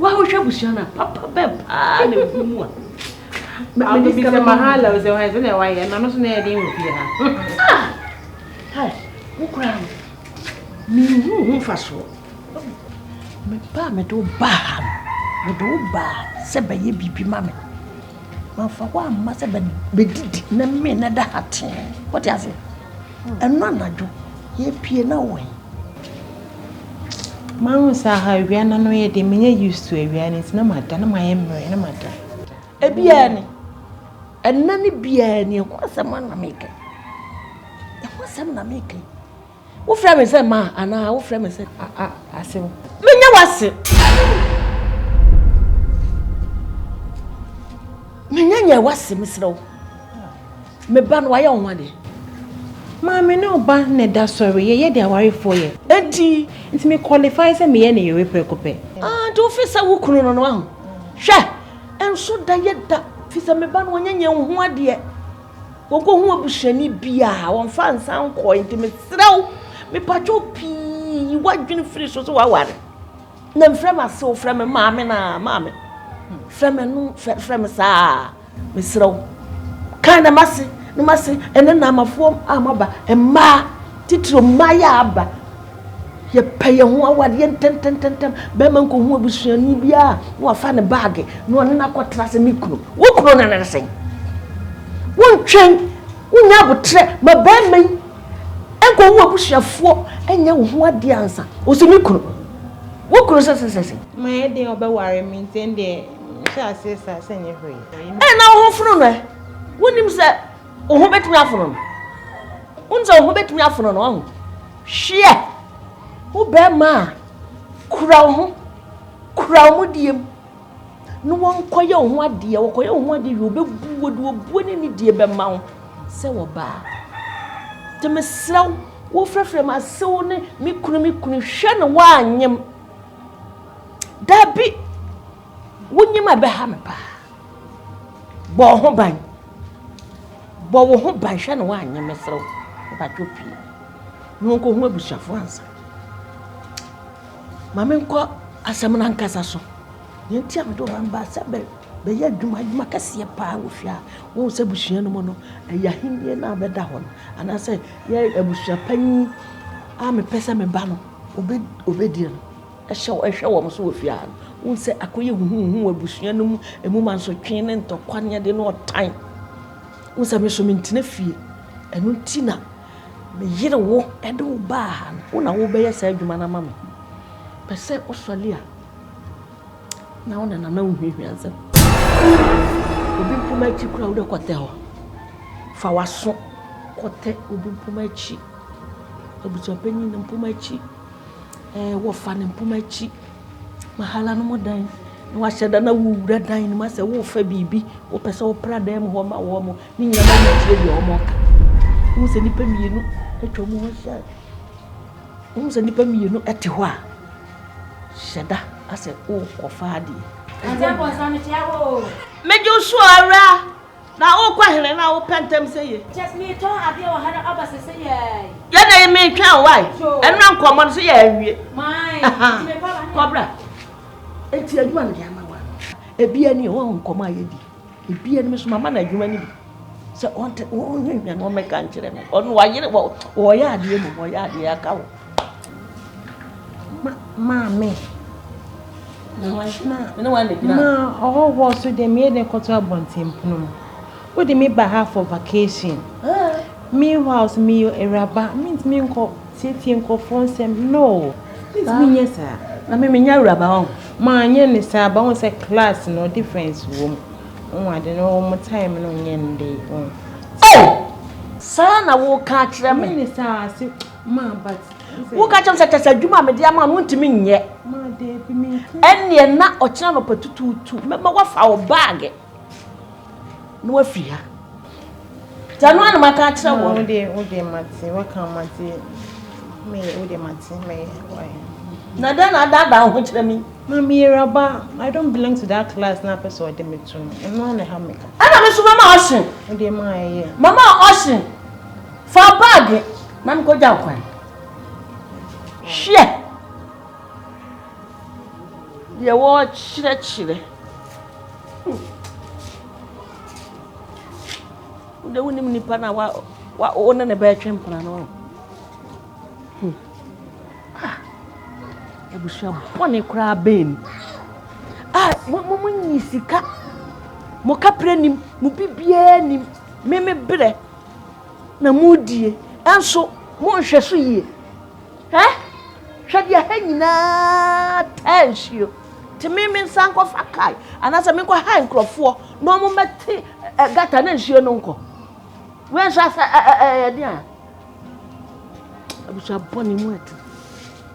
Woahwehwɛ abusua no a, papa bɛn paa na ɛgu mu a? Mebisa no mahala o sɛ ɔhɛ sɛ na ɛwa yɛ na no so na ɛyɛ den wɔ fie ha. Ah! Wo koraa no, menhu ho mfasoɔ. Mebaa mede wo baa ha no, mede wo baa sɛ bɛyɛ biribi ma me. Mamfa wo amma sɛ bɛdidi na mmee na ɛda ha tee. Wote ase? Ɛno anadwo, yɛpie na wɔ he? Mahu sɛ aha awia no ano yɛ deɛ menyɛ used to awia no nti na mada na mayɛ mmerɛ na mada. Ebiara ni. Ɛnna no biara ni. Ɛho asɛm ara na meka yi. Ɛho asɛm na meka yi. Wofrɛ me sɛ ma anaa wofrɛ me sɛ ase wo. Menyɛ w'ase. Menyɛ nyɛ w'ase mesrɛ wo. Me ba no wayɛ wo ho adeɛ. Maame ne wo ba na ɛda sɔre yɛyɛ deɛ awarefoɔ yɛ. Nti nti me qualify sɛ meyɛ ne yere prɛko pɛ. Ah nti wofi sɛ wo kunu no no wahu. Hwɛ ɛnso da yɛ da fi sɛ me ba no wanyɛ nyɛ wo ho adeɛ. Wɔkɔhu abusuani bi a, wɔmfa nsa nkɔe. Nti mesrɛ wo, mepatwa wo pii, yi w'adwene firi so sɛ woaware. Na mfrɛ m'ase o, frɛ me maame na maame. Frɛ me no, frɛ, frɛ me saa. Mesrɛ wo. Kan na m'ase, na m'ase, ɛnɛ na amafoɔ a moaba, mmaa, titiriw mmaa yi a aba, Yɛpɛ yɛn ho awadeɛ ntɛmntɛmntɛm. Bɛrima nkɔhu abusuani biara na wafa ne baage na ɔne no akɔtra ase ne kunu. Wo kunu no ne sɛn? Wontwɛn, wonya aboterɛ ma bɛrima yi nkɔhu abusuafoɔ nyɛ wo ho adeɛ ansa. Ɔsi me kunu. Wo kunu sɛsɛsɛsɛ. Mayɛ den ɔbɛware me nti ɛndeɛ mehyɛ aseɛ saa sɛ nyɛ hwee. Ɛna wo ho fono no ɛ. Wonim sɛ. Wo ho bɛtumi afono no. Wohu sɛ wo ho bɛtumi afono no ɔho. Hweɛ wo bɛrima a kura wo ho kura wo mu diem na wɔnkɔyɛ wo ho adeɛ wɔkɔyɛ wo ho adeɛ wie wɔbɛbu wo de wɔbuo ne ne die bɛma wo sɛ wɔbaa nti mesrɛ wo wofrɛfrɛ m asew ne me kunu me kunu hwɛ no woanyem dabi Wonyim a ɛbɛha me paa. Bɔ wo ho ban. Bɔ wo ho ban hwɛ na woannye meserɛ wo. Mpatwɔ pue na wonkɔhu abusuafoɔ ansa. Ma menkɔ asɛm no ankasa so. Deɛ nti a mede wo ba no baa sɛ bɛ bɛyɛ adwuma adwuma kɛseɛ paa wɔ fie a wohu sɛ abusua no mu no ɛyɛ ahennie no a bɛda hɔ no anaasɛ yɛ abusua panyin a mepɛ sɛ me ba no obɛ obɛdie no. Hyɛ wɔn, hwɛ wɔn so wɔ fie ha no. Wohu sɛ akɔyɛ huhuuhu wɔ abusua no mu, emu mansotwe ne ntɔkwa ne ade ne ɔtan. Wohu sɛ me nso mentena fie. Ɛno nti na meyere wo de wo baa ha no. Wo na wobɛyɛ saa adwuma no ama me. Pɛ sɛ wosɔre a, na wo na nana wo nhuahua nsɛm. Obi mpoma akyi koraa wode kɔtɛ hɔ. Fa w'aso kɔtɛ obi mpoma akyi. Abusuapanyin no mpoma akyi. Wɔfa no mpoma akyi, wɔhala no mu dan, na wɔahyɛ da na wowura dan no mu asɛ worefa biribi, wopɛ sɛ wopra dan mu hɔ ma wɔn, ne nyinaa na wotie deɛ wɔreka. Wohu sɛ nnipa mmienu atwa mu hɔ ahyia, wohu sɛ nnipa mmienu te hɔ a, hyɛ da asɛ worekɔfa adeɛ. Mede wo so, Awuraa. Na wo kɔ hene na wo pɛ ntɛm sɛ ye. Kyɛ sɛ me tɔn adeɛ wɔ ha na aba sɛ sɛ yɛɛi. Yɛ na ye me twɛn wo ai. Sure. Ɛnura nkɔmɔ no so yɛ awie. Mai, nti me kɔ aba. Kɔ bra. Eti adwuma me de ama wa no. Ebia ni wɔn nkɔmɔ a yɛ di. Ebia ni me so mama na adwuma ni bi. Sɛ ɔnte wɔn hwehwɛ no ɔmɛka nkyerɛ me. Ɔno wayere wɔ wɔyɛ adeɛ mu wɔyɛ adeɛ aka wo. Maame. Ɔhɔhoɔ nso deɛ meyɛ dɛ kɔto abɔnten pono mu. Wode me ba ha for vacation. Meanwhile nso meyɛ awuraba mentumi nkɔ tiatia nkorɔfoɔ nsɛm no. Mentumi nyɛ saa. Maame menyɛ awuraba ɔ. Manyɛ ne saa ba wohu sɛ class no difference wom. Wohu ade no wɔn time no nyɛ ne dɛ. Saa na woka akyerɛ me. Mene saa ase. woka kyɛm sɛ kyɛ sɛ adwuma a mede ama no wontumi nyɛ ɛnneɛ na ɔkyena nɔpa tutuutu mɛma woafa wo baage na woafi ha sɛ no anoma ka kyerɛ wɔ na dɛn na adaadaa wo ho kyerɛ me mameyeraba i don't belong to that class na apɛ sɛ ɔde me to no ɛno ana ha meka ɛna me so mama ɔhye mama ɔhye Fa baage na mekɔgya wo kwan. Hwɛ deɛ wɔrekyerɛkyerɛ. Wode wonim nipa no a wo ne ne bɛretwe mpena no ho. Hmm. Ah, abusua bɔne koraa bɛn ni. Ah, mo mo nyi sika. Mo kapere nim, mo bibiara nim. Me me brɛ. na modie, nso monhwɛ so yie. Hwɛ, hwɛ deɛ ha nyinaa taa nsuo. Te me me nsa nkɔfa kae anaasɛ menkɔ ha nkurɔfoɔ na wɔn mɛte ɛ gata na nsuo no nkɔ. Wei nso asɛ ɛ ɛ ɛ ɛdeɛ a abusua bɔ ne mu atu.